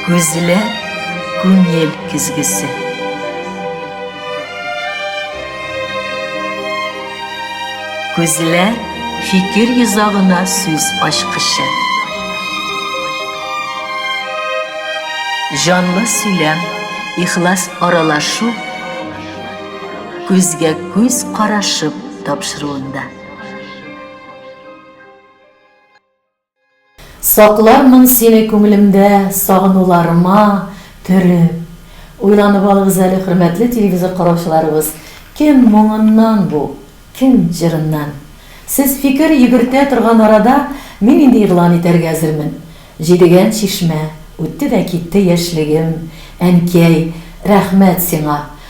Күзләр, күңел көзгесе. Күзләр, фикер йозагына сүз ачкычы. Җанлы сөйләм, ихлас аралашу, күзгә күз карашып тапшыруында. Саклармын сине күңелемдә сагынуларыма төреп. Уйланып алыгыз әле, хөрмәтле телевизор караучыларыбыз, кем моңыннан бу, кем җырыннан? Сез фикер йөгертә торган арада мин инде игълан итәргә әзермен. Җидегән чишмә, үтте дә китте яшьлегем, әнкәй, рәхмәт сиңа!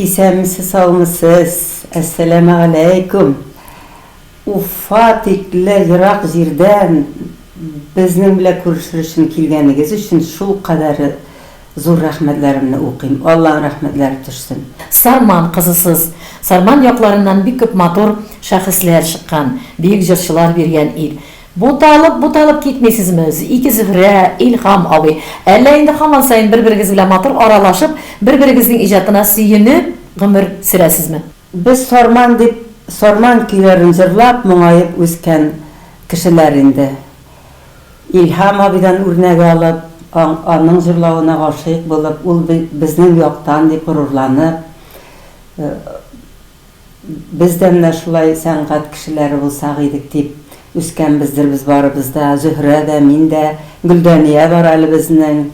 Исәнмесез саумысез, әссәләмә аләйкүм! Уфа тикле ерак җирдән безнең белән күрешер өчен килгәнегез өчен шул кадәр зур рәхмәтләремне укыйм, Аллаһ рәхмәтләре төшсен! Сарман кызысыз. Сарман якларыннан бик күп матур шәхесләр чыккан, бөек җырчылар биргән ил. Буталып, буталып китмисезме, ике Зөһрә, Илһам абый? Әллә инде һаман саен бер-берегез белән матур аралашып, бер-берегезнең иҗатына сөенеп гомер сөрәсезме? Без Сарман дип Сарман көйләрен җырлап, моңаеп үскән кешеләр инде. Илһам абыйдан үрнәк алып, аның җырлавына гашыйк булып, ул безнең яктан дип горурланып, Без дә менә шулай сәнгать кешеләре булсак идек дип үскәнбездер без барыбыз да, Зөһрә дә, мин дә, Гөлдания бар әле безнең,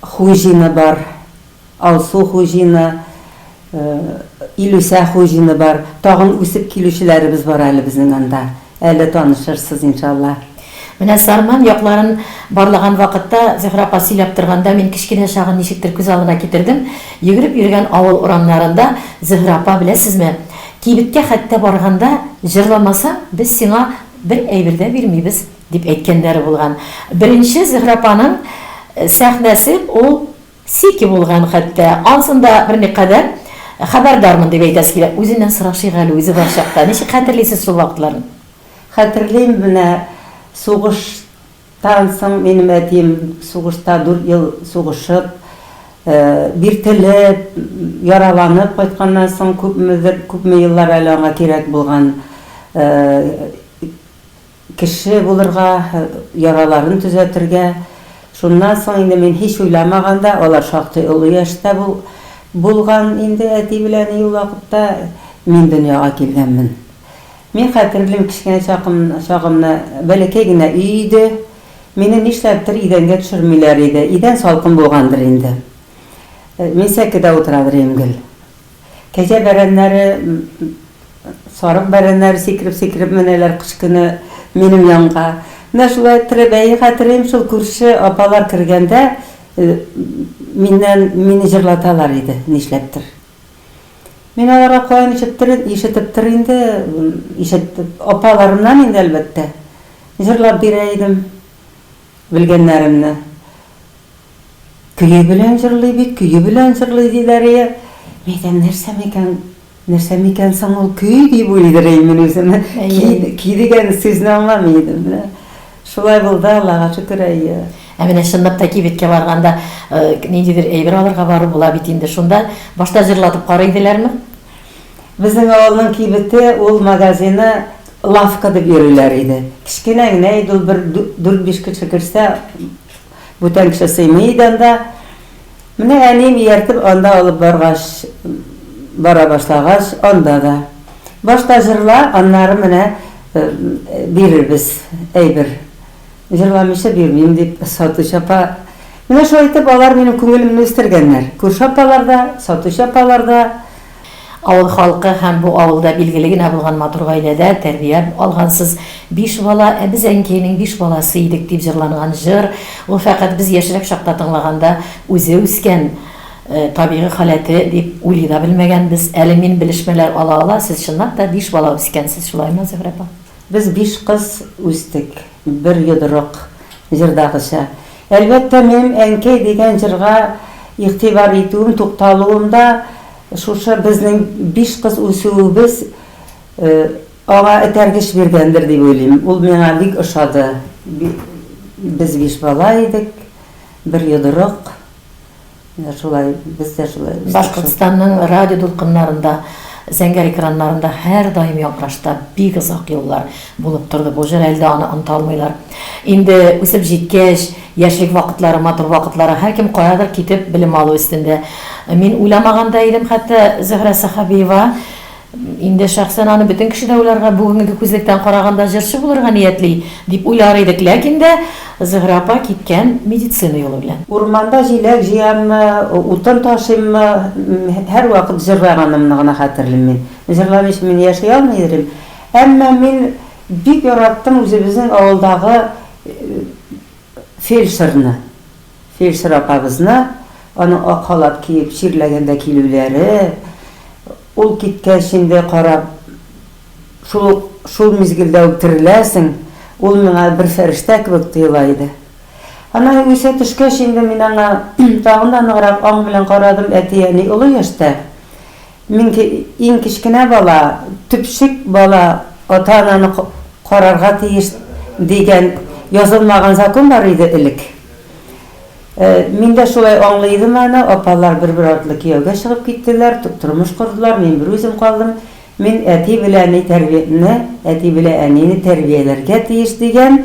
Хуҗина бар, Алсу Хуҗина, Илүсә Хуҗина бар, тагын үсеп килүчеләребез бар әле безнең анда. Әле танышырсыз, иншалла. Менә Сарман якларын барлаган вакытта, Зөһрә апа сөйләп торганда, мин кечкенә чагын ничектер күз алдына китердем. Йөгереп йөргән авыл урамнарында Зөһрә апа, беләсезме, кибеткә хәтта барганда, җырламасаң, без сиңа бер әйбер дә бирмибез, дип әйткәннәре булган. Беренче Зөһрә апаның сәхнәсе ул. Сики булган хәтта. Ансын да берникадәр хәбәрдармын дип әйтәсе килә. Үзеннән сорашыйк әле, үзе бар чакта. Ничек хәтерлисез шул вакытларны? Хәтерлим, менә сугыштан соң минем әтием сугышта дүрт ел сугышып, биртелеп, яраланып кайтканнан соң күпмедер, күпме еллар әле аңа кирәк булган. Кеше булырга, яраларын төзәтергә. Шуннан соң инде мин һич уйламаганда, алар шактый олы яшьтә булган инде әти белән әни ул вакытта, мин дөньяга килгәнмен. Мин хәтерлим, кечкенә чагымны, бәләкәй генә өй иде. Мине нишләптер идәнгә төшермиләр иде. Идән салкын булгандыр инде. Мин сәкедә утырадыр идем гел. Кәҗә бәрәннәре, сарык бәрәннәре сикереп-сикереп менәләр кыш көне минем янга. Менә шулай Трәбәи хәтерим, шул күрше апалар кергәндә миннән, мине җырлаталар иде, нишләптер. Мин аларга каян ишеттер, ишетептер инде, ишетеп, апаларымнан инде, әлбәттә, җырлап бирә идем. Белгәннәремне көе белән җырлый бит, көе белән җырлый, диләр ие. Мин әйтәм, нәрсә микән, нәрсә микән соң ул көй, дип уйлыйдырыйм мин үземә. Көй дигән сүзне аңламый идем. Менә шулай булды, Аллага шөкер, әйе. Ә менә чынлап та кибеткә барганда, ниндидер әйбер алырга бару була бит инде. Шунда башта җырлатып карый иделәрме? Безнең авылның кибете, ул магазины лавка дип йөриләр иде. Кечкенә генә иде ул, бер дүрт-биш кеше керсә, бүтән кеше сыймый иде анда. Менә әнием ияртеп анда алып баргач, бара башлагач, анда да. Башта җырла, аннары менә бирербез әйбер. Җырламыйча бирмим, дип, сатучы апа Менә шулай итеп алар минем күңелемне үстергәннәр. Күрше апалар да, сатучы апалар да. Авыл халкы һәм бу авылда билгеле генә булган матур гаиләдә тәрбия алгансыз. Биш бала, ә без әнкәйнең биш баласы идек, дип җырланган җыр, ул фәкать без яшьрәк чакта тыңлаганда, үзе үскән табигый халәте дип уйлый да белмәгәнбез. Әле мин белешмәләр ала-ала, сез чынлап та биш бала үскәнсез, шулаймы, Зөһрә апа? Без биш кыз үстек, бер йодрык җырдагыча. Әлбәттә, минем Әнкәй дигән җырга игътибар итүем, тукталуым да шушы безнең биш кыз үсүебез аңа этәргеч биргәндер дип уйлыйм. Ул миңа бик ошады. Без биш бала идек, бер йодрык. Менә шулай, без дә шулай үстек. Башкортстанның радио дулкыннарында, зәңгәр экраннарында һәрдаим яңгырашта бик озак еллар булып торды бу җыр, әле дә аны оныта алмыйлар. Инде үсеп җиткәч, яшьлек вакытлары, матур вакытлары, һәркем каядыр китеп белем алу өстендә. Мин уйламаган да идем хәтта, Зөһрә Сәхәбиева, Инде шәхсән аны бөтен кеше дә уйларга, бүгенге күзлектән караганда җырчы булырга ниятли, дип уйлар идек, ләкин дә Зөһрә апа киткән медицина юлы белән. Урманда җиләк җыяммы, утын ташыйммы, һәрвакыт җырлаганымны гына хәтерлим мин. Җырламыйча мин яши алмый идем. Әмма мин бик яраттым үзебезнең авылдагы фельдшерны. Фельдшер апабызны, аның ак халат киеп чирләгәндә килүләре, ул киткәч инде карап, шул ук, шул мизгелдә үк тереләсең, ул миңа бер фәрештә кебек тоела иде. Аннары үсә төшкәч инде мин аңа тагын да ныграк аң белән карадым, әти-әни олы яшьтә. Мин иң кечкенә бала, төпчек бала ата-ананы карарга тиеш дигән язылмаган закон бар иде элек. Мин дә шулай аңлый идем аны. Апалар бер-бер артлы кияүгә чыгып киттеләр, тормыш кордылар, мин берүзем калдым. Мин әти белән әни тәрбияне, әти белән әнине тәрбияләргә тиеш дигән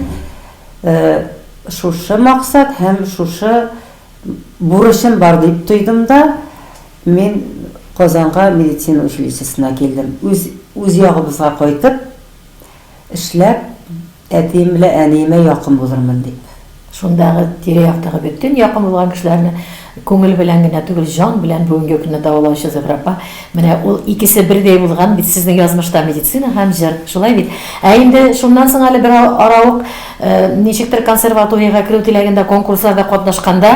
шушы максат һәм шушы Бурычым бар дип тойдым да, мин Казанга медицина училищесына килдем. Үз, үз ягыбызга кайтып, эшләп, әтием белән әниемә якын булырмын дип. Шундагы тирә-яктагы бөтен якын булган кешеләрне күңел белән генә түгел, җан белән бүгенге көнне дәвалаучы Зөһрә апа, Менә ул икесе бердәй булган бит сезнең язмышта, медицина һәм җыр, шулай бит? Ә инде шуннан соң әле бер ара ук, ничектер консерваториягә керү теләгендә конкурсларда катнашканда,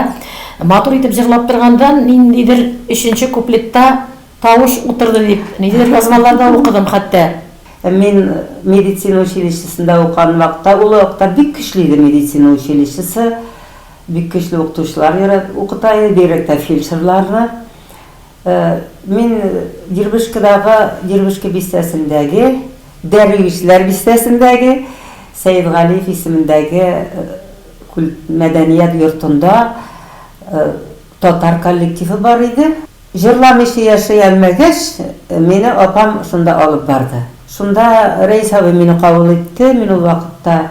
матур итеп җырлап торганда, ниндидер өченче куплетта тавыш утырды дип, ниндидер язмаларда укыдым хәтта. Мин медицина училищесында укыган вакытта, ул вакытта бик көчле иде медицина училищесы, бик көчле укытучылар укыта иде, бигрәк тә фельдшерларны. Мин Дербышкадагы Дербышка бистәсендәге, Дәрвишләр бистәсендәге Сәетгалиев исемендәге мәдәният йортында татар коллективы бар иде. Җырламыйча яши алмагач, мине апам шунда алып барды. Шунда Рәис абый мине кабул итте, мин ул вакытта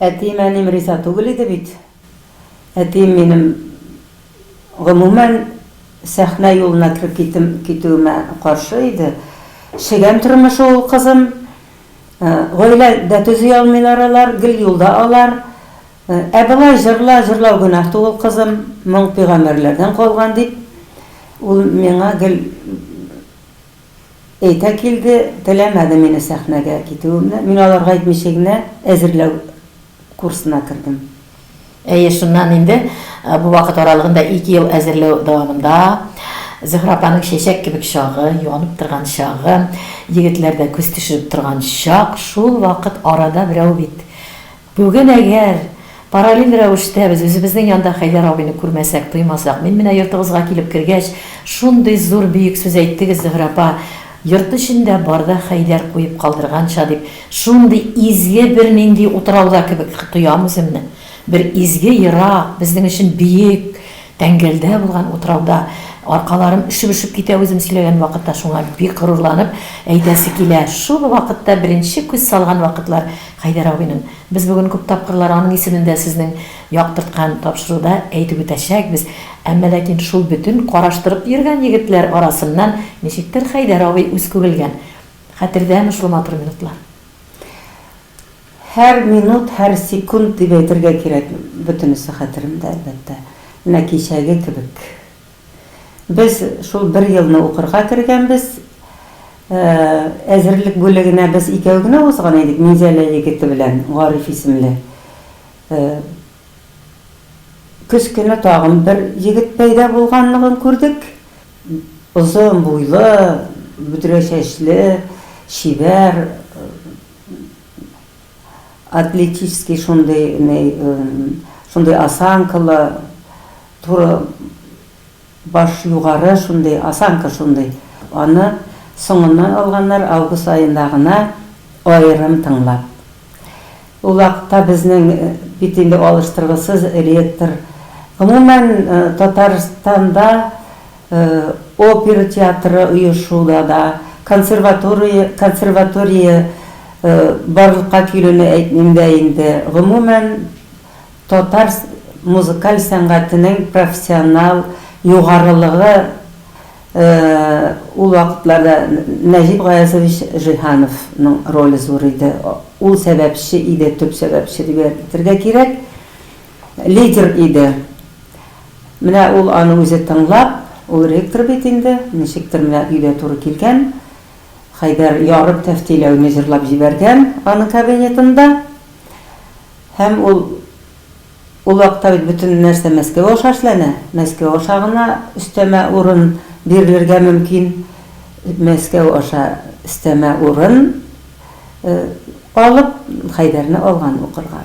Әтием-әнием риза түгел иде бит. Әтием минем, гомумән, сәхнә юлына кереп китүем, китүемә каршы иде. Чегән тормышы ул, кызым. Гаилә дә төзи алмыйлар алар, гел юлда алар. Ә болай җырла, җырлау гөнаһ түгел, кызым, моң пөйгамбәрләрдән калган, дип, ул миңа гел Әйтә килде, теләмәде мине сәхнәгә китүемне. Мин аларга әйтмичә генә әзерләү курсына кердем. Әйе, шуннан инде бу вакыт аралыгында ике ел әзерләү дәвамында Зөһрә апаның чәчәк кебек чагы, юанып торган чагы, егетләр дә күз төшереп торган чак, шул вакыт арада берәү бит, Бүген әгәр параллель рәвештә без үзебезнең янда Хәйдәр абыйны күрмәсәк, тоймасак, мин менә йортыгызга килеп кергәч, шундый зур бөек сүз әйттегез, Зөһрә апа, йорт эчендә бар да Хәйдәр куеп калдырганча дип, шундый изге бернинди утрауда кебек тоям үземне. Бер изге ерак, безнең өчен бөек. Тәңгәлдә булган утрауда аркаларым өшеп-өшеп китә үзем сөйләгән вакытта шуңа бик горурланып әйтәсе килә шул вакытта беренче күз салган вакытлар Хәйдәр абыйның без бүген күп тапкырлар аның исемен дә сезнең яктырткан тапшыруда әйтеп үтәчәкбез әмма ләкин шул бөтен караштырып йөргән егетләр арасыннан ничектер Хәйдәр абый үз күрелгән хәтердәме шул матур минутлар. Һәр минут, һәр секунд дип әйтергә кирәк, бөтенесе хәтеремдә, әлбәттә, менә кичәге кебек. Без шул бер елны укырга кергәнбез. Әзерлек бүлегенә без икәү генә узган идек, Минзәлә егете белән Гариф исемле. Көз көне тагын бер егет пәйда булганлыгын күрдек. Озын буйлы, бөдрә чәчле, чибәр. Атлетический шундый ни, шундый осанкалы, туры баш югары шундый, осанка шундый. Аны соңыннан алганнар, август аенда гына аерым тыңлап. Ул вакытта безнең бит инде алыштыргысыз ректор. Гомумән, Татарстанда Опера театры оешуда да, консерватория консерватория барлыкка килүне әйтмим дә инде, гомумән, татар музыкаль сәнгатенең профессиональ югарылыгы ул вакытларда Нәҗип Гаязович Җиһановның роле зур иде. Ул сәбәпче иде, төп сәбәпче дип әйтергә кирәк. Лидер иде. Менә ул аны үзе тыңлап, ул ректор бит инде, ничектер менә өйгә туры килгән, Хәйдәр ярым тәфтиләүне җырлап җибәргән аның кабинетында. Һәм ул, ул вакытта бит бөтен нәрсә Мәскәү аша эшләнә, Мәскәү аша гына өстәмә урын бирелергә мөмкин, Мәскәү аша өстәмә урын алып, Хәйдәрне алган укырга.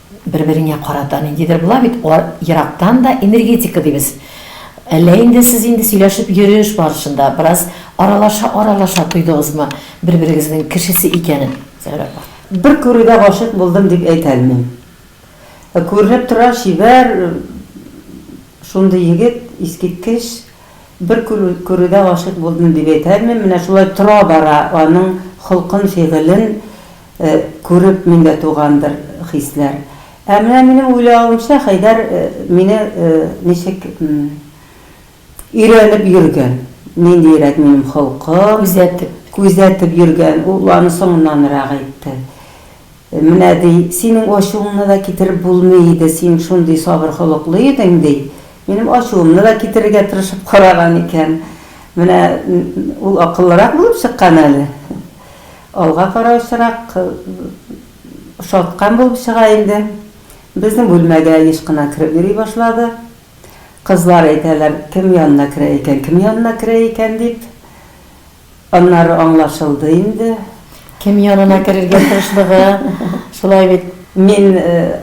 Бер-береңә карата ниндидер була бит, ерактан да энергетика дибез. Әллә инде сез инде сөйләшеп йөреш барышында бераз аралаша-аралаша тойдыгызмы бер-берегезнең кешесе икәнен, Зәүрә апа? Бер күрүдә гашыйк булдым дип әйтә алмыйм. Күренеп тора, чибәр шундый егет, искиткеч. Бер күрүдә гашыйк булдым дип әйтә алмыйм. Менә шулай тора-бара аның холкын, фигылен, Күреп миндә тугандыр хисләр. Ә менә минем уйлавымча, Хәйдәр мине ничек өйрәнеп йөргән, ниндиерәк минем холкым. Күзәтеп. Күзәтеп йөргән, ул аны соңыннанрак әйтте. Менә, ди, синең ачуыңны да китереп булмый иде, син шундый сабыр холыклы идең, ди. Минем ачуымны да китерергә тырышып караган икән. Менә ул акыллырак булып чыккан әле. Алга караучырак шаткан булып чыга инде. Безнең бүлмәгә еш кына кереп йөри башлады. Кызлар әйтәләр, кем янына керә икән, кем янына керә икән дип. Аннары аңлашылды инде. Кем янына керергә тырышлыгы, шулай бит. Мин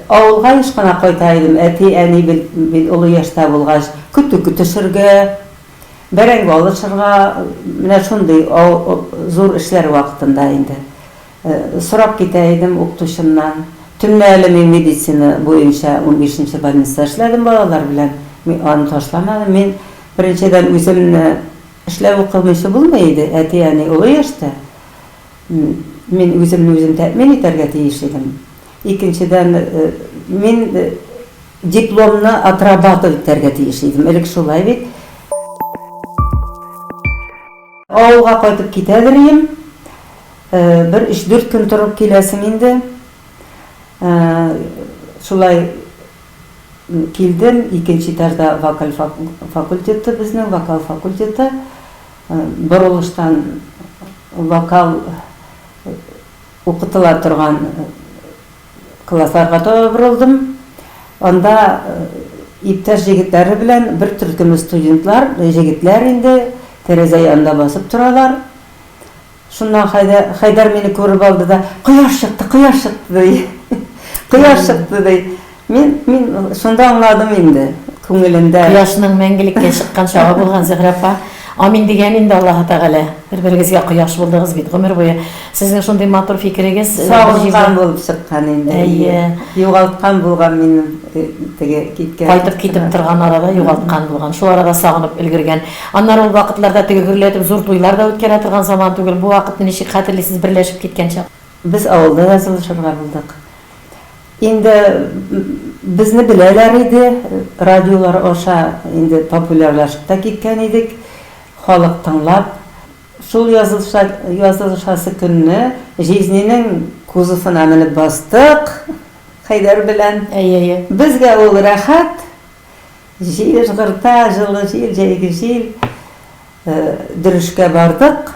авылга еш кына кайта идем, әти-әни бит олы яшьтә булгач, көтү көтешергә. Бәрәңге алышырга, менә шундый зур эшләр вакытында инде. Сорап китә идем укытучымнан. Төнлә әле мин медицина буенча унбишенче больниста эшләдем балалар белән. Мин аны ташламадым. Мин, беренчедән, үземне эшләп укымыйчы булмый иде, әти-әни олы яшьтә. Мин үземне үзем тәэмин итәргә тиеш идем. Икенчедән, мин Дипломны отрабатывать итәргә тиеш идем, элек шулай бит. Авылга кайтып китәдер ием. Бер өч-дүрт көн торып киләсем инде. Шулай килдем, икенче этажда вокаль факультеты безнең, вокал факультеты. Борылыштан вокал укытыла торган. Классларга таба борылдым. Анда иптәш егетләре белән бер төркеме студентлар, җегетләр инде, тәрәзә янында басып торалар. Шуннан Хәйдәр мине күреп алды да, Кояш чыкты, кояш чыкты, ди. Кояш чыкты, ди. Мин, мин шунда аңладым инде, күңелендә. Кояшның мәңгелеккә чыккан чагы булган, Зөһрә апа. Амин дигән инде Аллаһы Тәгалә. Бер-берегезгә кояш булдыгыз бит гомер буе. Сезнең шундый матур фикерегез бер җирдә. Савыккан булып чыккан инде. Әйе. Югалткан булган минем теге киткән. Кайтып китеп торган арада югалткан булган. Шул арада сагынып өлгергән. Аннары ул вакытларда теге гөрләтеп зур туйлар да үткәрә торган заман түгел. Бу вакытны ничек хәтерлисез берләшеп киткән чак? Без авылда язылышырга булдык. Инде безне беләләр иде, радиолар аша инде популярлашып та киткән идек. Халык тыңлап, шул язылыша язылышасы көнне Жизненең кузовына менеп бастык Хәйдәр белән. Әйе, әйе. Безгә ул рәхәт, җил ыжгырта, җылы җил, җәйге җил. Дөрешкә бардык.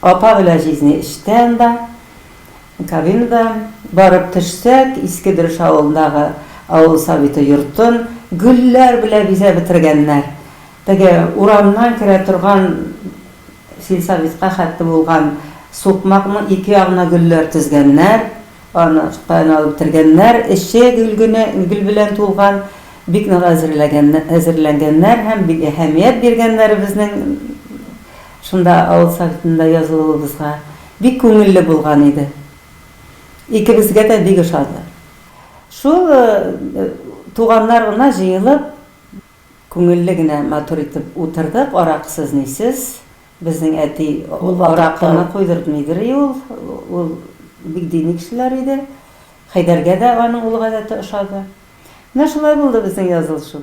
Апа белән Жизни эштә анда. Кабинга барып төшсәк, Иске Дөреш авылындагы авыл Советы йортын гөлләр белән бизәп бетергәннәр. Теге урамнан керә торган сельсоветка хәтле булган сукмакның ике ягына гөлләр тезгәннәр, аны таян алып бетергәннәр, эче гөл генә, гөл белән тулган, бик нык әзерләгән әзерләнгәннәр һәм бик әһәмият биргәннәр безнең Шунда авыл Советында язылуыбызга бик күңелле булган иде. Икебезгә дә бик ошады. Шул туганнар гына җыелып, күңелле генә, матур итеп утырдык, аракысыз-нисез. Безнең әти аракыны койдыртмыйдыри ул, ул бик дини кешеләр иде. Хәйдәргә дә аның ул гадәте ошады. Менә шулай булды безнең язылышу.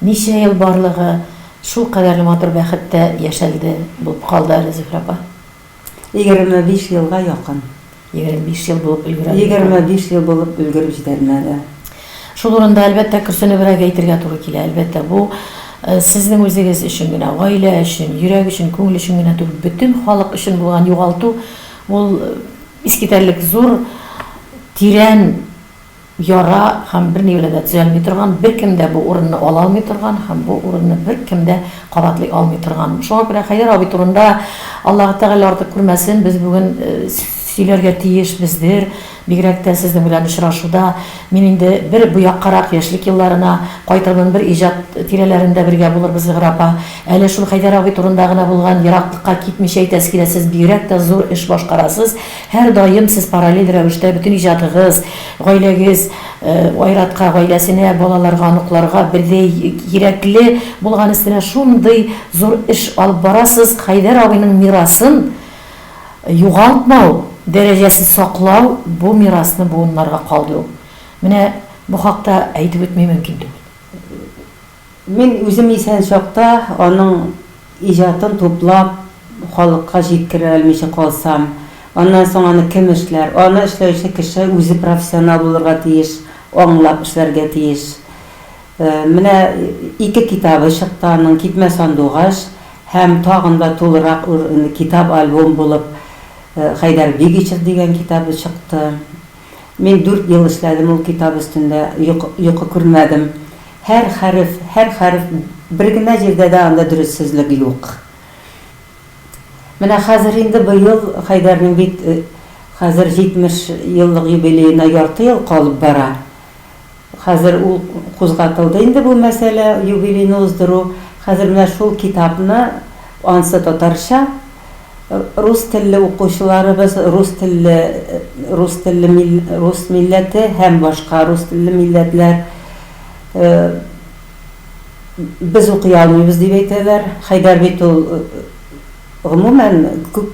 Ничә ел барлыгы шул кадәрле матур бәхеттә яшәлде булып калды әле, Зөһрә апа. Егерме биш елга якын. Егерме биш ел булып өлгерә. Егерме биш ел булып өлгереп җитәлмәде. Шул урында, әлбәттә, көрсенебрәк әйтергә туры килә. Әлбәттә, бу сезнең үзегез өчен генә, гаилә өчен, йөрәк өчен, күңел өчен генә түгел, бөтен халык өчен булган югалту, ул искитәрлек зур, тирән. яра һәм берни белән дә төзәлми торган, беркем дә бу урынны ала алмый торган һәм бу урынны беркем дә кабатлый алмый торган. Шуңа күрә Хәйдәр абый турында, Аллаһы Тәгалә артык күрмәсен, без бүген сөйләргә тиешбездер, бигрәк тә сезнең белән очрашуда. Мин инде бер бу яккарак, яшьлек елларына кайтырмын, бер иҗат тирәләрендә бергә булырбыз, Зөһрә апа. Әле шул Хәйдәр абый турында гына булган ераклыкка китмичә әйтәсе килә, сез бигрәк тә зур эш башкарасыз, Һәрдаим сез параллель рәвештә бөтен иҗатыгыз, гаиләгез, Айратка, гаиләсенә, балаларга, оныкларга бердәй кирәкле булган өстенә шундый зур эш алып барасыз, Хәйдәр абыйның мирасын югалтмау, дәрәҗәсен саклау, бу мирасны буыннарга калдыру. Менә бу хакта әйтеп үтми мөмкин түгел. Мин үзем исән чакта аның иҗатын туплап, халыкка җиткерә алмыйча калсам, аннан соң аны кем эшләр? Аны эшләүче кеше үзе профессионал булырга тиеш, аңлап эшләргә тиеш. Менә ике китабы чыкты аның, Китмә сандугач һәм тагын да тулырак китап-альбом булып Хәйдәр Бигичев дигән китабы чыкты. Мин дүрт ел эшләдем ул китап өстендә, йокы күрмәдем. Һәр хәреф, һәр хәреф, бер генә җирдә дә анда дөрессезлек юк. Менә хәзер инде быел Хәйдәрнең бит хәзер 70 еллык юбилеена ярты ел калып бара. Хәзер ул кузгатылды инде бу мәсьәлә, юбилейны уздыру. Хәзер менә шул китапны, ансы татарча, рус телле укучыларыбыз, рус телле, рус телле мил, рус милләте һәм башка рус телле милләтләр, без укый алмыйбыз дип әйтәләр. Хәйдәр бит ул, Гомумән, күп,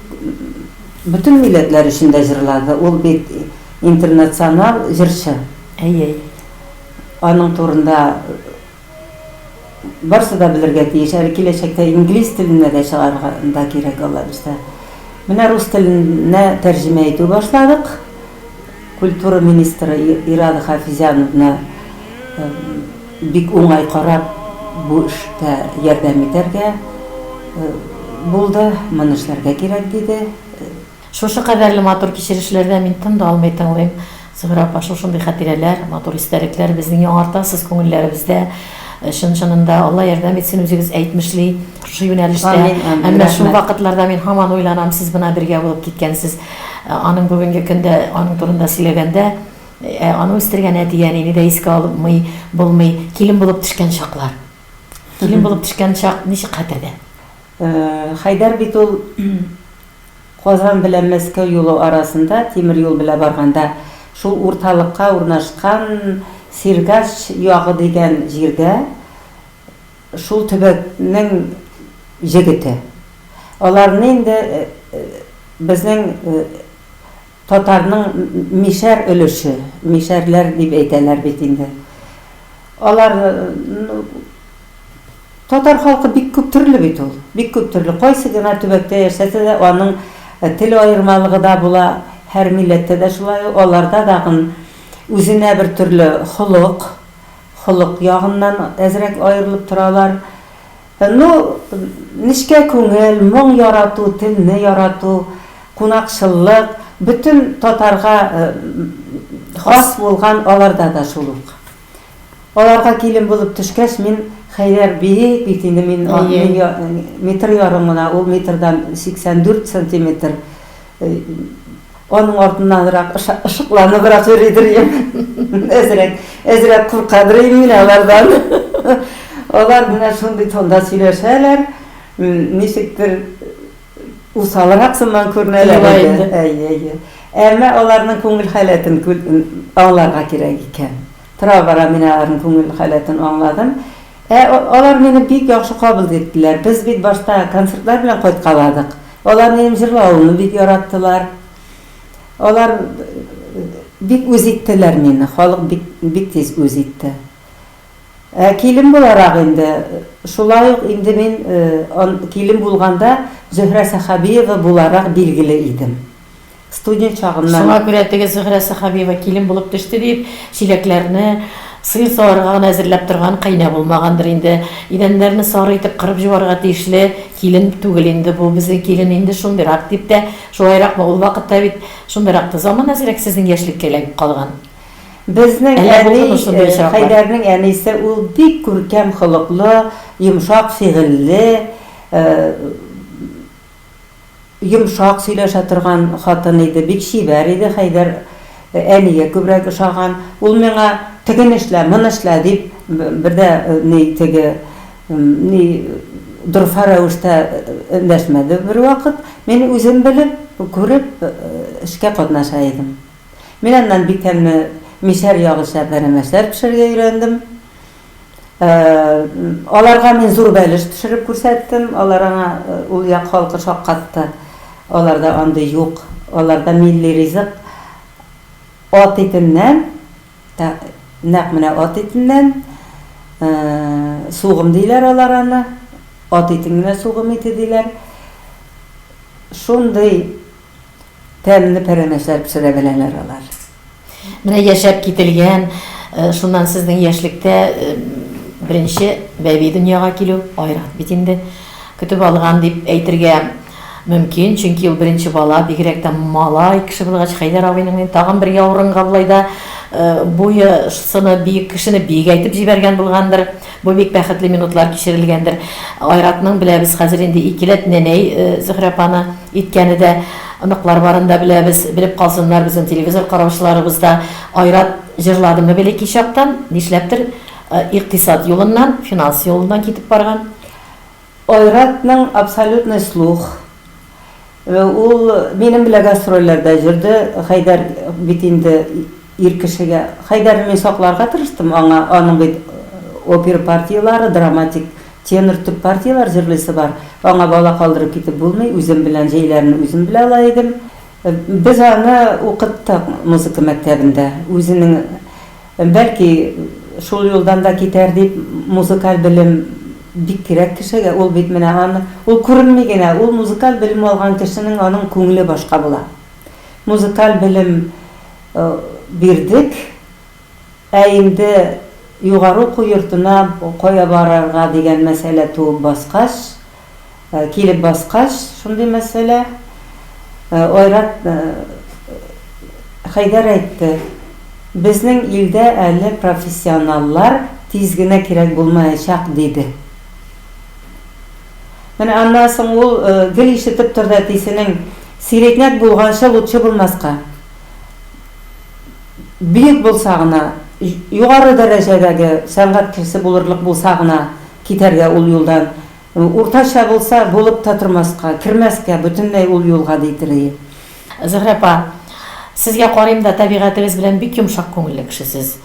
бөтен милләтләр өчен дә җырлады. Ул бит интернационал җырчы. Әйе. Аның турында барсы да белергә тиеш. Әле киләчәктә инглиз теленә дә чыгарга да кирәк, Аллабирса. Менә рус теленә тәрҗемә итү башладык. Культура министры Ирада Хафизяновна бик уңай карап, бу эштә ярдәм итәргә булды, моны эшләргә кирәк, диде. Шушы кадәрле матур кичерешләрдән мин тын да алмый тыңлыйм, Зөһрә апа, шушындый хәтирәләр, матур истәлекләр безнең яңартасыз күңелләребездә. Чын-чынында Алла ярдәм итсен, үзегез әйтмешли, шушы юнәлештә. Амин, амин, Әмма рәхмәт. шул вакытларда мин һаман уйланам, сез бына бергә булып киткәнсез. Ә, Аның бүгенге көндә, аның турында сөйләгәндә, ә, аны үстергән әти-әнине дә искә алмый булмый. Килен булып төшкән чаклар. Килен булып төшкән чак ничек хәтердә? Э, Хәйдәр бит ул Казан белән Мәскәү юлы арасында тимер юл белән барганда, шул урталыкка урнашкан Сиргач ягы дигән җирдә шул төбәкнең җегете. Аларны инде безнең татарның мишәр өлеше, мишәрләр дип әйтәләр бит инде. Алар, ну. Татар халкы бик күп төрле бит ул. Бик күп төрле. Кайсы гына төбәктә яшәсә дә, аның тел аермалыгы да була. Һәр милләттә дә шулай ул. Аларда тагын үзенә бер төрле холык, холык ягыннан әзрәк аерылып торалар. Ну, нечкә күңел, моң ярату, телне ярату, кунакчыллык, бөтен татарга хас булган аларда да шул ук. Аларга килен булып төшкәч, мин Хәйрәр биек бит инде, мин метр ярым гына, ул метрдан 84 сантиметр. Аның артыннанрак ышыкланыбрак йөридер идем. Әзрәк, әзрәк куркадыр идем мин алардан. Алар менә шундый тонда сөйләшәләр, ничектер. усалрак сыман күренәләр иде. Әйе, әйе. Әмма аларның күңел халәтен аңларга кирәк икән. Тора-бара мин аларның күңел халәтен аңладым. Ә алар мине бик яхшы кабул иттеләр. Без бит башта концертлар белән кайткаладык. Алар минем җырлавымны бик яраттылар. Алар бик үз иттеләр мине. Халык бик тиз үз итте. Ә килен буларак инде, шулай ук инде мин ан килен булганда Зөһрә Сәхәбиева буларак билгеле идем. Студент чагымнан. Шуңа күрә теге Зөһрә Сәхәбиева килен булып төште диеп, чиләкләрне сыер саварга гына әзерләп торган каенә булмагандыр инде. Идәннәрне сары итеп кырып җуарга тиешле килен түгел инде бу, безнең килен инде шундыйрак дип тә, шулайракмы, ул вакытта бит шундыйрак та заман әзрәк сезнең яшьлеккә эләгеп калган. Безнең Әллә әни, булдымы э, шундый очраклар? Хәйдәрнең әнисе, ул бик күркәм холыклы, йомшак фигыльле, э, йомшак сөйләшә торган хатын иде, бик чибәр иде, Хәйдәр э, әнигә күбрәк ошаган. Ул миңа тегене эшлә, моны эшлә дип, б- бер дә э, ни теге м, ни дорфа рәвештә э, эндәшмәде бервакыт. Мин үзем белеп, күреп э, эшкә катнаша идем. Мин аннан бик әмме мишәр ягы сәрдәнә мәсәр пешерергә өйрәндем. Аларга мин зур бәлеш пешереп күрсәттем. Алар аңа, ул як халкы шаккатты. Аларда андый юк. Аларда милли ризык ат итеннән, нәкъ менә ат итеннән, сугым диләр алар аны. Ат итен генә сугым ите диләр. Шундый. Тәмле пәрәмәчләр пешерә беләләр алар. Менә яшәп кителгән, шуннан сезнең яшьлектә беренче бәби дөньяга килү, Айрат бит инде көтеп алган дип әйтергә мөмкин, чөнки ул беренче бала, бигрәк тә малай кеше булгач, Хәйдәр абыйның тагын бер яурынга болай да буе, сыны биек кешене биек әйтеп җибәргән булгандыр. Бу бик бәхетле минутлар кичерелгәндер. Айратның беләбез хәзер инде икеләт нәнәй Зөһрә апаны. Иткәне дә, оныклар барын да беләбез, белеп калсыннар безнең телевизор караучыларыбыз да. Айрат җырладымы били ки чактан, нишләптер икътисад юлыннан, финанс юлыннан китеп барган. Айратның абсолютный слух. Ул минем белән гастрольләрдә җырды, Хәйдәр бит инде. Ир кешегә Хәйдәрне мин сакларга тырыштым, аңа, аның бит опера партияләре, драматик, тенор, төп партияләр җырлыйсы бар. Аңа бала калдырып китеп булмый, үзем белән җәйләрне үзем белә ала идем. Без аны укыттык музыка мәктәбендә. Үзенең, бәлки, шул юлдан да китәр дип, музыкаль белем бик кирәк кешегә, ул бит менә аны, ул күренми генә, ул музыкаль белем алган кешенең аның күңеле башка була. Музыкаль белем бирдек. Ә инде югары уку йортына кая барырга дигән мәсьәлә туып баскач, килеп баскач, шундый мәсьәлә, Айрат Хәйдәр әйтте, Безнең илдә әле профессионаллар тиз генә кирәк булмаячак, диде. Менә аннан соң ул гел ишетеп торды әтисенең, Сиретняк булганчы лутчы булмаска. Бөек булса гына, югары дәрәҗәдәге сәнгать кешесе булырлык булса гына китәргә ул юлдан, уртача булса, булып та тормаска, кермәскә бөтенләй ул юлга, ди Тиреев. Зөһрә апа, сезгә карыйм да, тәбигатегез белән бик йомшак күңелле кеше сез.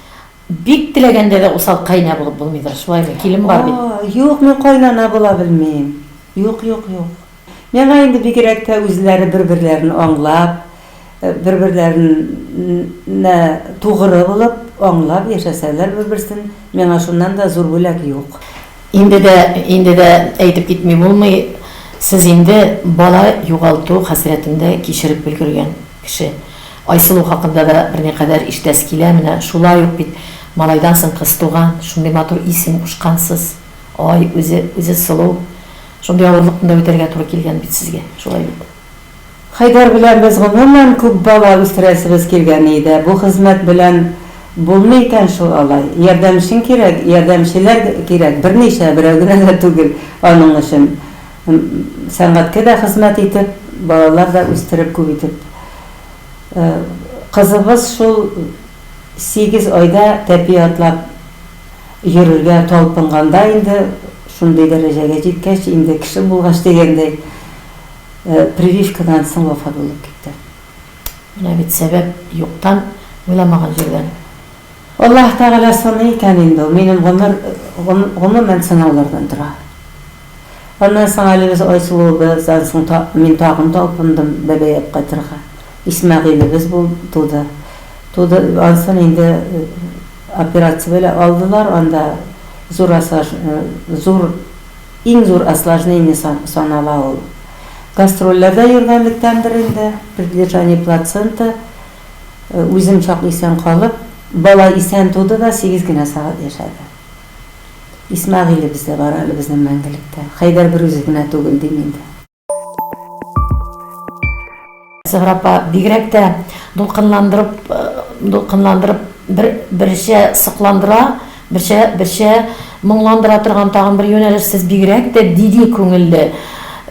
Бик теләгәндә дә усал кайнә булып булмыйдыр, шулаймы? Килен бар бит. О, юк, мин кайнана була белмим. Юк, юк, юк. Миңа инде бигрәк тә үзләре бер-берләрен аңлап, бер-берләрен нә тугры булып, аңлап яшәсәләр бер-берсен, миңа шуннан да зур бүләк юк. Инде дә, инде дә әйтеп китми булмый, сез инде бала югалту хәсрәтен дә кичереп өлгергән кеше. Айсылу хакында да берникадәр ишетәсе килә, менә шулай ук бит малайдан соң кыз туган, шундый матур исем кушкансыз, ай, үзе, үзе сылу, шундый авырлыкны да үтәргә туры килгән бит сезгә, шулай бит? Хәйдәр белән без гомумән күп бала үстерәсебез килгән иде. Бу хезмәт белән булмый икән шул алай. Ярдәмчең кирәк, ярдәмчеләр кирәк, берничә, берәү генә дә түгел аның өчен. Сәнгатькә дә хезмәт итеп, балалар да үстереп күп итеп. Кызыбыз шул сигез айда тәпи атлап йөрергә талпынганда инде шундый дәрәҗәгә җиткәч, инде кеше булгач дигәндәй, Прививкадан соң вафат булып китте. Менә бит сәбәп юктан, уйламаган җирдән. Аллаһ Тәгалә саный икән инде ул. Минем гомер, гомумән, сынаулардан тора. Аннан соң әле без Айсылуыбыздан соң мин тагын талпындым Бәбәйгә кайтырга. Исмәгыйлебез булды, туды. Туды, ансын инде операция белән алдылар, анда зур, зур. Иң зур осложнение санала ул. Гастрольләрдә йөргәнлектәндер инде, предлежание плаценты, үзем чак исән калып, бала исән туды да, сигез генә сәгать яшәде. Исмәгыйлебез дә бар әле безнең мәңгелектә. Хәйдәр берүзе генә түгел, дим инде. Сыграпа бигрәк тә дулкынландырып, э, дулкынландырып бер берчә сокландыра, берчә берчә моңландыра торган тагын бер юнәлеш сез бигрәк тә диди күңелле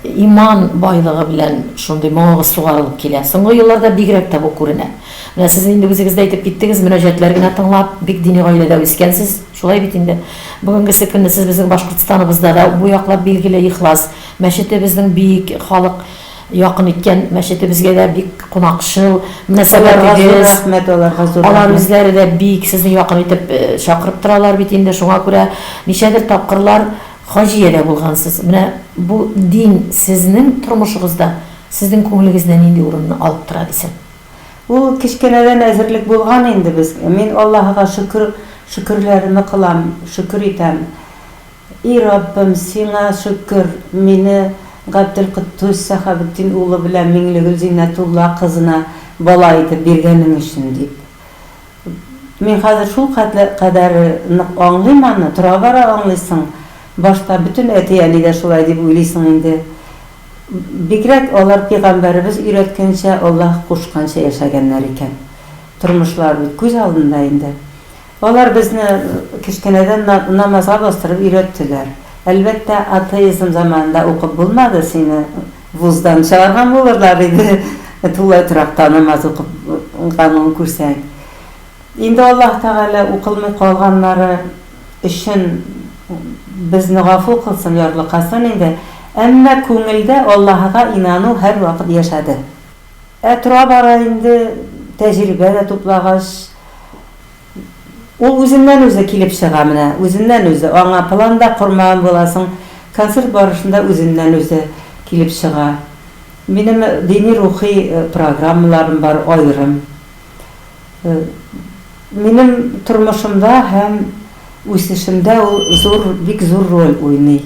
иман байлыгы белән шундый моңыгыз сугарылып килә. Соңгы елларда бигрәк тә бу күренә. Менә сез инде үзегез дә әйтеп киттегез, мөнәҗәтләр генә тыңлап, бик дини гаиләдә үскәнсез, шулай бит инде. Бүгенгесе көнне сез безнең Башкортстаныбызда да бу яклап билгеле ихлас Мәчетебезнең бик халык якын иткән мәчетебезгә дә бик кунакчыл мөнәсәбәтегез, алар үзләре дә бик сезне якын итеп чакырып торалар бит инде, шуңа күрә ничәдер тапкырлар Хаҗия дә булгансыз. Менә бу дин сезнең тормышыгызда сезнең күңелегездә нинди урынны алып тора дисең? Ул кечкенәдән әзерлек булган инде безгә. Мин Аллаһыга шөкер, шөкерләремне кылам, шөкер итәм. И Раббым, Сиңа шөкер, мине Габделкотдус Сәхабетдин улы белән Миңлегөл Зиннәтулла кызына бала итеп биргәнең өчен, дип. Мин хәзер шул кадәр нык аңлыйм аны, тора-бара аңлыйсың, башта бөтен әти-әни дә шулай дип уйлыйсың инде. Бигрәк алар пигамбәребез өйрәткәнчә, Аллаһ кушканча яшәгәннәр икән. Тормышлары бит күз алдында инде. Алар безне кечкенәдән намазга бастырып өйрәттеләр. Әлбәттә, атеизм заманында укып булмады, сине вуздан чыгарган булырлар иде, тулай торакта намаз укыганыңны күрсәң. Инде Аллаһ Тәгалә укылмый калганнары өчен безне гафу кылсын, ярлыкасын инде, әмма күңелдә Аллаһыга инану һәрвакыт яшәде. Ә тора-бара инде тәҗрибә дә туплагач, ул үзеннән-үзе килеп чыга менә, үзеннән-үзе. Аңа план да кормаган буласың, концерт барышында үзеннән-үзе килеп чыга. Минем дини-рухи программаларым бар аерым. Минем тормышымда һәм үсешемдә ул зур, бик зур роль уйный.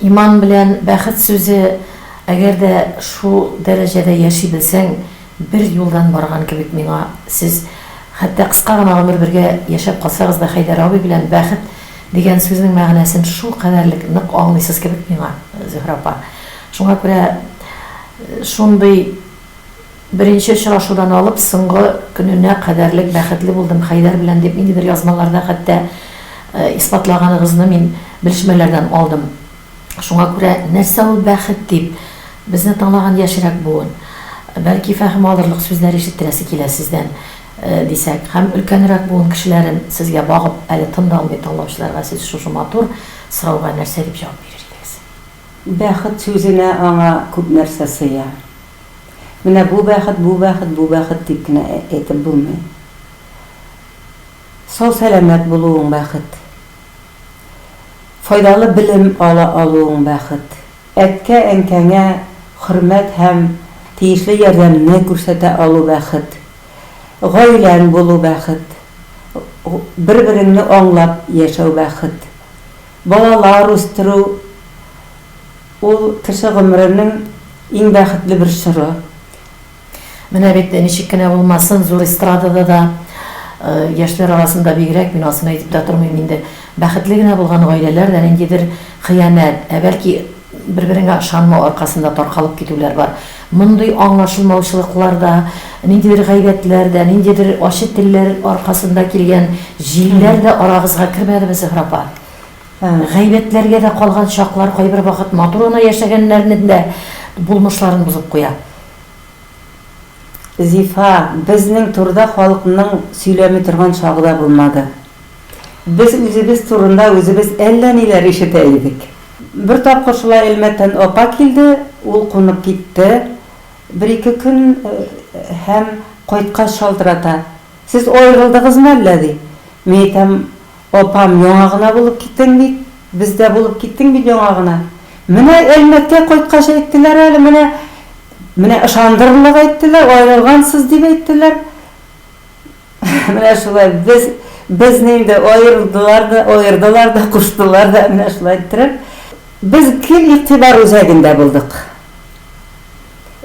Иман белән бәхет сүзе, әгәр дә шул дәрәҗәдә яши белсәң, бер юлдан барган кебек миңа, сез хәтта кыска гына гомер бергә яшәп калсагыз да Хәйдәр абый белән бәхет дигән сүзнең мәгънәсен шул кадәрлек нык аңлыйсыз кебек миңа, Зөһрә апа. Шуңа күрә шундый. Беренче очрашудан алып соңгы көненә кадәрлек бәхетле булдым Хәйдәр белән, дип ниндидер язмаларда хәтта исбатлаганыгызны мин белешмәләрдән алдым. Шуңа күрә нәрсә ул бәхет дип, безне тыңлаган яшьрәк буын, бәлки, фәһем алырлык сүзләр ишеттерәсе килә сездән, дисәк, һәм өлкәнрәк буын кешеләрен сезгә багып, әле тын да алмый тыңлаучыларга сез шушы матур сорауга нәрсә дип җавап бирер идегез? Бәхет сүзенә аңа күп нәрсә сыя. Менә бу бәхет, бу бәхет, бу бәхет дип кенә әйтеп булмый. Сау-сәламәт булуың бәхет. Файдалы белем ала алуың бәхет. Әткә-әнкәңә хөрмәт һәм тиешле ярдәмне күрсәтә алу бәхет. Гаиләң булу бәхет. Бер-береңне аңлап яшәү бәхет. Балалар үстерү. Ул, кеше гомеренең иң бәхетле бер чоры. Менә бит, ничек кенә булмасын, зур эстрадада да, яшьләр арасында бигрәк, мин асын әйтеп тә тормыйм инде, бәхетле генә булган гаиләләр дә ниндидер хыянәт, ә бәлки бер-береңә ышанмау аркасында таркалып китүләр бар. Мондый аңлашылмаучылыклар да, ниндидер гайбәтләр дә, ниндидер ачы телләр аркасында килгән җилләр дә арагызга кермәдеме, Зөһрә апа? Гайбәтләргә дә калган чаклар кайбер вакыт матур гына яшәгәннәрнең дә булмышларын бозып куя. Зифа, безнең турыда халыкның сөйләми торган чагы да булмады. Без үзебез турында үзебез әллә ниләр ишетә идек. Бер тапкыр шулай Әлмәттән апа килде, ул кунып китте, бер-ике көн һәм кайткач шалтырата, Сез аерылдыгызмы әллә? ди. Мин әйтәм, Апам, яңа гына булып киттең бит, бездә булып киттең бит яңа гына. Менә Әлмәткә кайткач әйттеләр әле, менә, менә ышандырырлык әйттеләр, аерылгансыз дип әйттеләр. Менә шулай, без, безне инде аерылдылар да, аердылар да, куштылар да, менә шулай иттереп. Без гел игътибар үзәгендә булдык.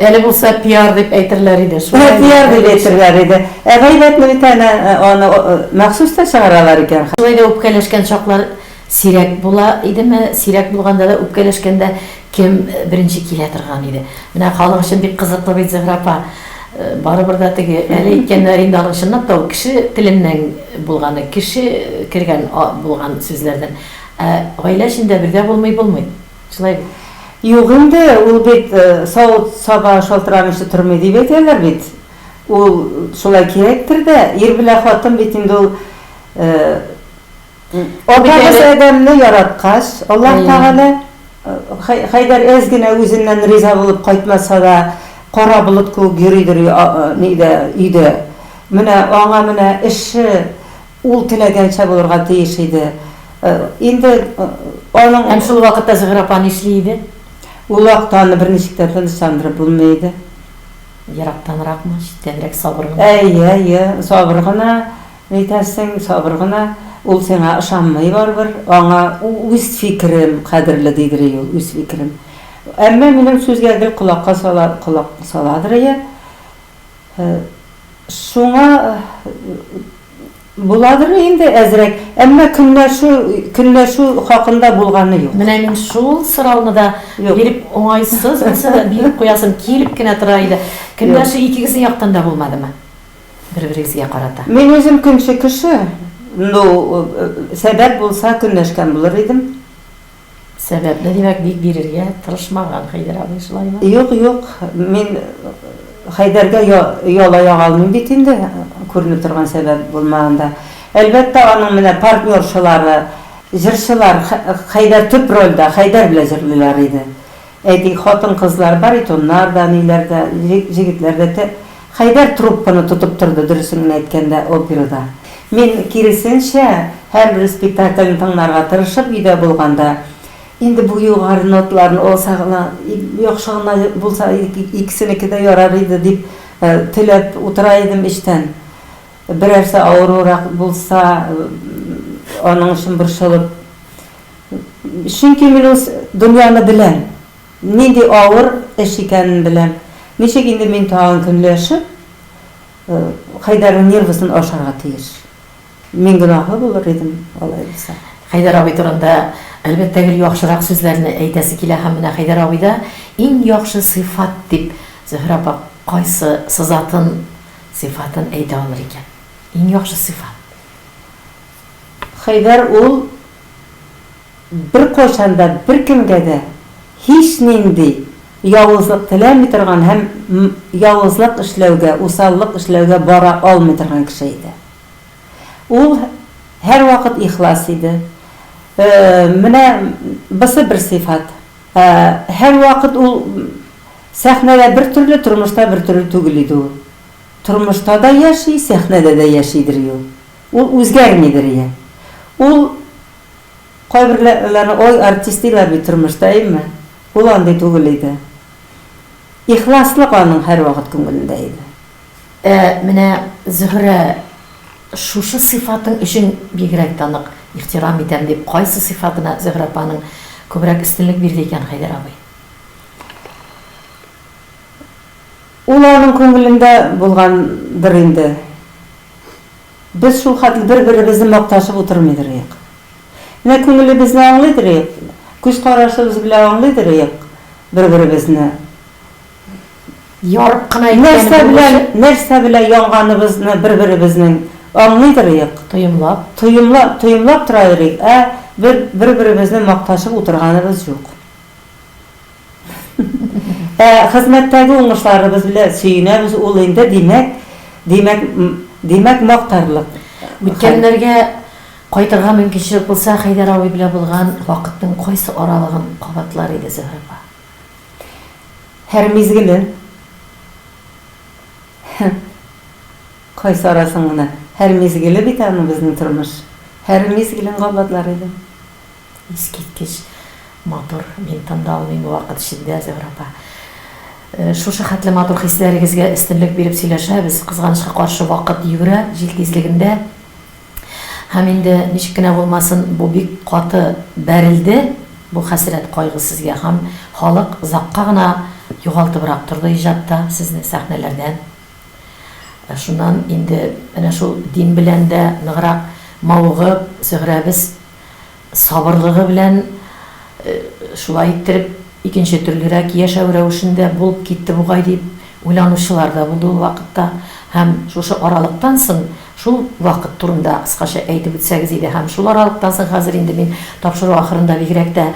Әле булса пиар дип әйтерләр иде. Шулай пиар дип әйтерләр иде. Ә гайбәтне бит әнә аны махсус та чыгаралар икән. Шулай да үпкәләшкән чаклар сирәк була идеме? Сирәк булганда да үпкәләшкәндә кем беренче килә торган иде? Менә халык өчен бик кызыклы бит, Зөһрә апа. Барыбер дә теге әле әйткәннәр инде аның чынлап та ул кеше теленнән булганы, кеше кергән булган сүзләрдән. Ә гаилә эчендә бергә булмый булмый. Шулай бит? Юк инде, ул бит савыт саба шалтырамыйча тормый дип әйтәләр бит. Ул шулай кирәктер дә, ир белән хатын бит инде ул Атабыз Адәмне яраткач, Аллаһ Тәгалә Хәйдәр әз генә үзеннән риза булып кайтмаса да, кара болыт кебек йөридер өйдә. Менә аңа менә эше Ул теләгәнчә булырга тиеш иде. Инде аның. Һәм шул вакытта Зөһрә апа нишли иде? Ул вакытта аны берничек тә тынычландырып булмый иде. Ерактанракмы, читтәнрәк, сабыр гына. Әйе, әйе, сабыр гына, ни итәсең, сабыр гына. Ул сиңа ышанмый барыбер. Аңа үз фикерем кадерле, дидерие ул, үз фикерем. Әмма минем сүзгә гел колакка сала, колак саладырые. Шуңа буладыр инде әзрәк, әмма көнләшү, көнләшү хакында булганы юк. Менә мин шул сорауны да биреп уңайсыз булса да биреп куясым килеп кенә тора иде. Көнләшү икегезнең яктан да булмадымы? Бер-берегезгә карата. Мин үзем көнче кеше, ну, сәбәп булса көнләшкән булыр идем. Сәбәпне, димәк, бик бирергә тырышмаган Хәйдәр абый, шулаймы? Юк, юк, мин Хәйдәргә яла яга алмыйм бит инде, күренеп торган сәбәп булмаганда. Әлбәттә, аның менә партнершалары, җырчылар, Хәйдәр төп рольдә, Хәйдәр белән җырлыйлар иде. Әйди, хатын-кызлар, баритоннар да, ниләр дә, җегетләр дә тә. Хәйдәр трубканы тотып торды, дөресен генә әйткәндә, операда. Мин, киресенчә, һәрбер спектакльне тыңларга тырышып, өйдә булганда, Инде бу югары ноталарны алса гына, яхшы гына булса, икесенеке дә ярар иде, дип теләп утыра идем эчтән. Берәрсе авыруырак булса, аның өчен борчылып. Чөнки мин үз дөньяны беләм, нинди авыр эш икәнен беләм. Ничек инде мин тагын көнләшеп, Хәйдәрнең нервысын ашарга тиеш? Мин гөнаһлы булыр идем алай булса. Хәйдәр абый турында, әлбәттә, гел яхшырак сүзләрне әйтәсе килә һәм менә Хәйдәр абыйда иң яхшы сыйфат дип Зөһрә апа кайсы сызатын, сыйфатын әйтә алыр икән? Иң яхшы сыйфат. Хәйдәр ул беркайчан да беркемгә дә һичнинди явызлык теләми торган һәм явызлык эшләүгә, усаллык эшләүгә бара алмый торган кеше иде. Ул һәрвакыт ихлас иде. Менә бысы бер сыйфат. Һәрвакыт ул сәхнәдә бер төрле, тормышта бер төрле түгел иде ул. Тормышта да яши, сәхнәдә дә яшидер юл. Ул үзгәрмидер ия. Ул кайберләрне ой артист диләр бит тормышта әйеме? Ул андый түгел иде. Ихласлык аның һәрвакыт күңелендә иде. Ә менә Зөһрә шушы сыйфатың өчен бигрәк тә нык ихтирам итәм дип кайсы сыйфатына Зөһрә апаның күбрәк өстенлек бирде икән Хәйдәр абый? Ул аның күңелендә булгандыр инде. Без шулхәтле бер-беребезне макташып утырмыйдыр ыек. Менә күңелебезне аңлыйдыр ыек, күз карашыбыз белән аңлыйдыр ыек бер-беребезне. Ярып кына әйткәнем булмасын. Нәрсә белән, нәрсә белән янганыбызны бер-беребезнең аңлыйдыр ыек. Тоемлап. Тоемлап, тоемлап тора йөрик, ә бер-беребезне макташып утырганыбыз юк. Ә хезмәттәге уңышларыбыз белән сөенәбез, ул инде, димәк, димәк, димәк, мактарлык. Үткәннәргә кайтырга мөмкинчелек булса, Хәйдәр абый белән булган вакытның кайсы аралыгын кабатлар иде Зөһрә апа? Һәр мизгелен. Кайсы арасын гына? Һәр мизгеле бит аның безнең тормыш. Һәр мизгелен кабатлар идем. Искиткеч матур, мин тын да алмыйм вакыт эчендә, Зөһрә апа. Шушы хәтле матур хисләрегезгә өстенлек биреп сөйләшәбез. Кызганычка каршы, вакыт йөгерә җил тизлегендә. Һәм инде ничек кенә булмасын, бу бик каты бәрелде, бу хәсрәт, кайгы сезгә. Һәм халык озакка гына югалтыбрак торды иҗатта сезне, сәхнәләрдән. Шуннан инде менә шул дин белән дә ныграк мавыгып, Зөһрәбез. сабырлыгы белән шулай иттереп икенче төрлерәк яшәү рәвешендә булып китте бугай дип уйланучылар да булды ул вакытта. Һәм шушы аралыктан соң шул вакыт турында кыскача әйтеп үтсәгез иде. Һәм шул аралыктан соң хәзер инде мин тапшыру ахырында бигрәк тә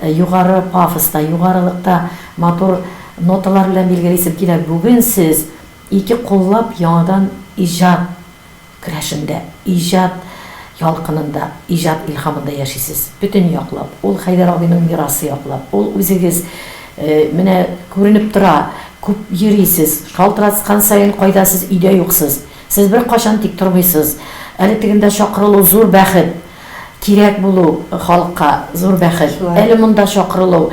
югары пафоста, югарылыкта матур ноталар белән билгелисем килә, бүген сез ике куллап яңадан иҗат Керәшендә, иҗат ялкынында, иҗат илһамында яшисез. Бөтен яклап, ул Хәйдәр абыйның мирасы яклап, ул үзегез. Менә күренеп тора, күп йөрисез, шалтыраткан саен кайда сез, өйдә юксыз. Сез беркайчан тик тормыйсыз. Әле тегендә чакырылу, зур бәхет. Кирәк булу халыкка зур бәхет. Әле монда чакырылу.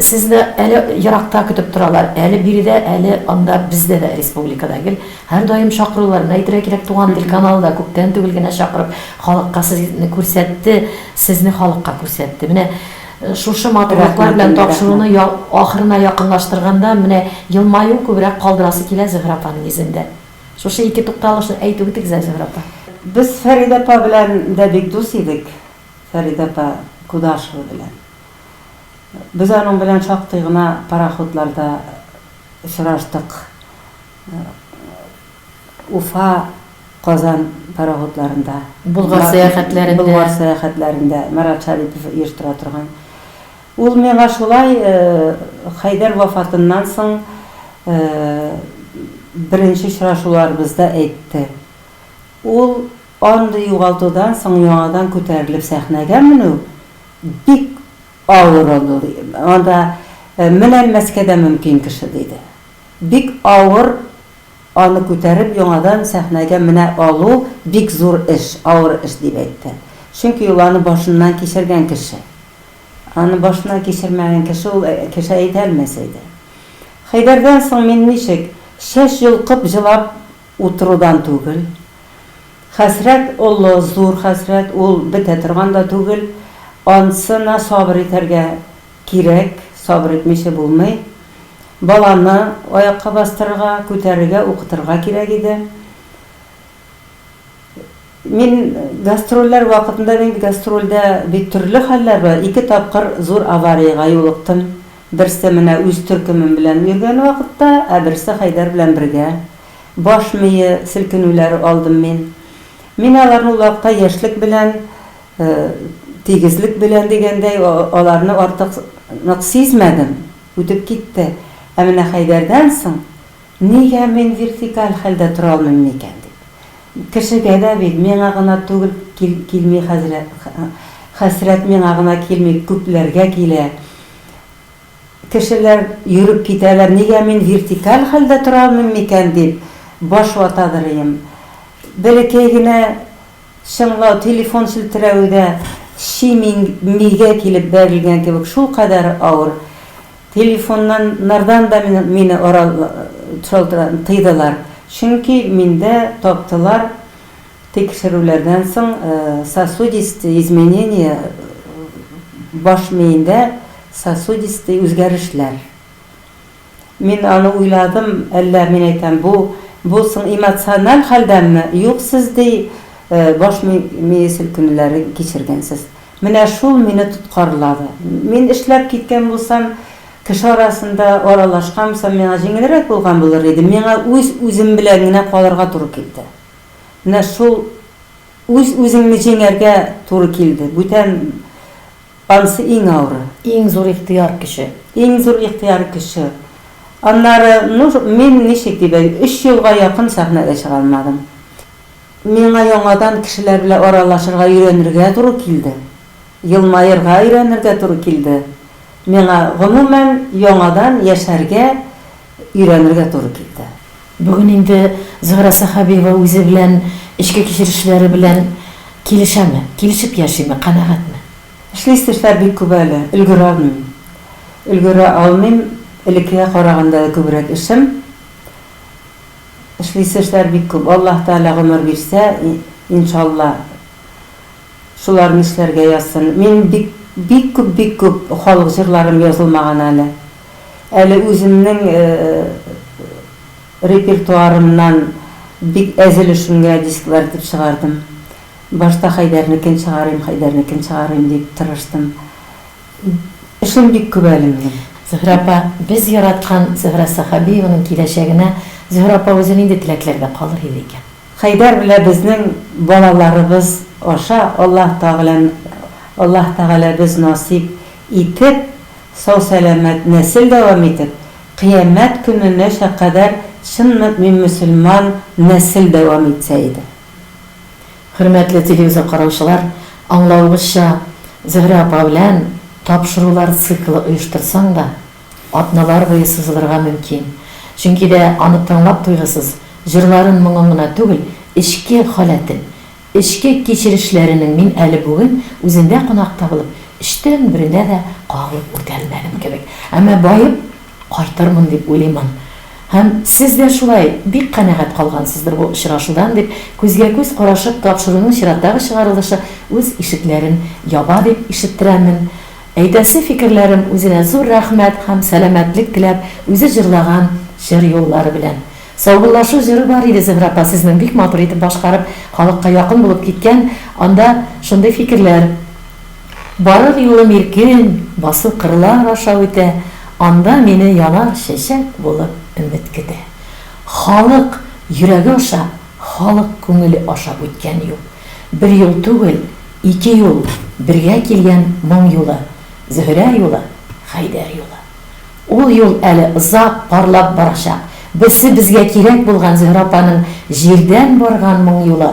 Сезне әле еракта көтеп торалар. Әле биредә, әле анда бездә дә республикада гел һәрдаим чакырулар. Менә әйтергә кирәк, Туган тел каналы да күптән түгел генә чакырып халыкка сезне күрсәтте, сезне халыкка күрсәтте. Менә шушы матурлыклар белән тапшыруны ахырына якынлаштырганда менә елмаю күбрәк калдырасы килә Зөһрә апаның йөзендә. Шушы ике тукталышны әйтү бит гзә, Зөһрә апа. Без Фәридә апа белән дә бик дус идек, Фәридә апа Кудашева белән. Без аның белән шактый гына пароходларда очраштык. Уфа, Казан пароходларында. Болгар сәяхәтләрендә. Болгар сәяхәтләрендә Марат Шарипов оештыра торган. Ул миңа шулай Хәйдәр вафатыннан соң беренче очрашуларыбызда әйтте. Ул андый югалтудан соң яңадан күтәрелеп сәхнәгә менү бик авыр ул, анда менән мәскә дә мөмкин кеше, диде. Бик авыр аны күтәреп яңадан сәхнәгә менә алу бик зур эш, авыр эш, дип әйтте. Чөнки ул аны башыннан кичергән кеше. Аны башына кичермәгән кеше ул кеше әйтә алмас иде. Хәйдәрдән соң мин ничек, чәч йолкып җылап утырудан түгел. Хәсрәт олы, зур хәсрәт, ул бетә торган да түгел. Анысына сабыр итәргә кирәк, сабыр итмичә булмый. Баланы аякка бастырырга, күтәрергә, укытырга кирәк иде. Мин гастрольләр вакытында бит гастрольдә бит төрле хәлләр бар. Ике тапкыр зур авариягә юлыктым. Берсе менә үз төркемем белән йөргән вакытта, ә берсе Хәйдәр белән бергә. Баш мие селкенүләре алдым мин. Мин аларны ул вакытта яшьлек белән, тигезлек белән дигәндәй, аларны артык нык сизмәдем, үтеп китте. Ә менә Хәйдәрдән соң Нигә мин вертикаль хәлдә тора алмыйм микән? дип. Кешегә дә бит, миңа гына түгел, кил, килми хәзрә, хәсрәт миңа гына килми, күпләргә килә. Кешеләр йөреп китәләр, нигә мин вертикаль хәлдә тора алмыйм микән? дип баш вата дырыйм. Бәләкәй генә чыңлау, телефон челтерәве дә чи мин, мигә килеп бәрелгән кебек шулкадәр авыр. Телефоннан нардан да мине ора шалтыратын тыйдылар, чөнки миндә таптылар тикшерүләрдән соң сосудистые изменения, баш миендә сосудистые үзгәрешләр. Мин аны уйладым, әллә, мин әйтәм, бу, бу соң эмоциональ хәлдәнме, юк, сез, ди, баш мие селкенүләре кичергәнсез. Менә шул мине тоткарлады. Мин эшләп киткән булсам, кеше арасында аралашкан булсам, миңа җиңелрәк булган булыр иде. Миңа үз-үзем белән генә калырга туры килде. Менә шул үз-үзеңне җиңәргә туры килде. Бүтән ансы иң авыры. Иң зур ихтыяр көче. Иң зур ихтыяр көче. Аннары, ну, мин ничек дип әй, өч елга якын сәхнәгә чыга алмадым. Миңа яңадан кешеләр белән аралашырга өйрәнергә туры килде, елмаерга өйрәнергә туры килде, миңа, гомумән, яңадан яшәргә өйрәнергә туры килде. Бүген инде Зөһрә Сәхәбиева үзе белән, эчке кичерешләре белән килешәме? Килешеп яшиме? Канәгатьме? Эшлисе эшләр бик күп әле, өлгерә алмыйм. Өлгерә алмыйм, элеккегә караганда да күбрәк эшем. Эшлисе эшләр бик күп, Аллаһ Тәгалә гомер бирсә, иншалла, шуларны эшләргә язсын. Минем бик, бик күп, бик күп халык җырларым язылмаган әле. Әле үземнең репертуарымнан бик әз өлешемгә дисклар итеп чыгардым. Башта Хәйдәрнекен чыгарыйм, Хәйдәрнекен чыгарыйм дип тырыштым. Эшләр бик күп әле минем. Зөһрә апа, без яраткан Зөһрә Сәхәбиеваның киләчәгенә Зөһрә апа үзе нинди теләкләргә калыр иде икән? Хәйдәр белән безнең балаларыбыз аша Аллаһ Тәгалә Аллаһ Тәгалә без насыйп итеп, сау-сәламәт нәсел дәвам итеп, кыямәт көненәчә кадәр чын мөэмин-мөселман нәсел дәвам итсә иде. Хөрмәтле телевизор караучылар, аңлавыгызча, Зөһрә апа белән тапшырулар циклы оештырсаң да, атналар буе сузылырга мөмкин. Чөнки дә аны тыңлап туйгысыз, җырларын, моңын гына түгел, эчке халәтен, эчке кичерешләренең мин әле бүген үзендә кунакта булып, өчтән беренә дә кагылып үтә алмадым кебек. Әмма баеп. Кайтырмын дип уйлыймын. Һәм сез дә шулай бик канәгать калгансыздыр бу очрашудан, дип, күзгә-күз карашып, тапшыруның чираттагы чыгарылышы үз ишекләрен яба, дип ишеттерәмен. Әйтәсе фикерләрем, үзенә зур рәхмәт һәм сәламәтлек теләп, үзе җырлаган җыр юллары белән. Саубуллашу җыры бар иде, Зөһрә апа, сезнең бик матур итеп башкарып, халыкка якын булып киткән, анда шундый фикерләр. Барыр юлым иркен, басу кырлар аша үтә, Анда мине янар чәчәк булып өмет көтә. Халык йөрәге аша, халык күңеле аша үткән юл. Бер юл түгел, ике юл, бергә килгән моң юлы, Зөһрә юлы, Хәйдәр юлы. Ул юл әле озак парлап барачак. Берсе безгә кирәк булган Зөһрә апаның җирдән барган моң юлы.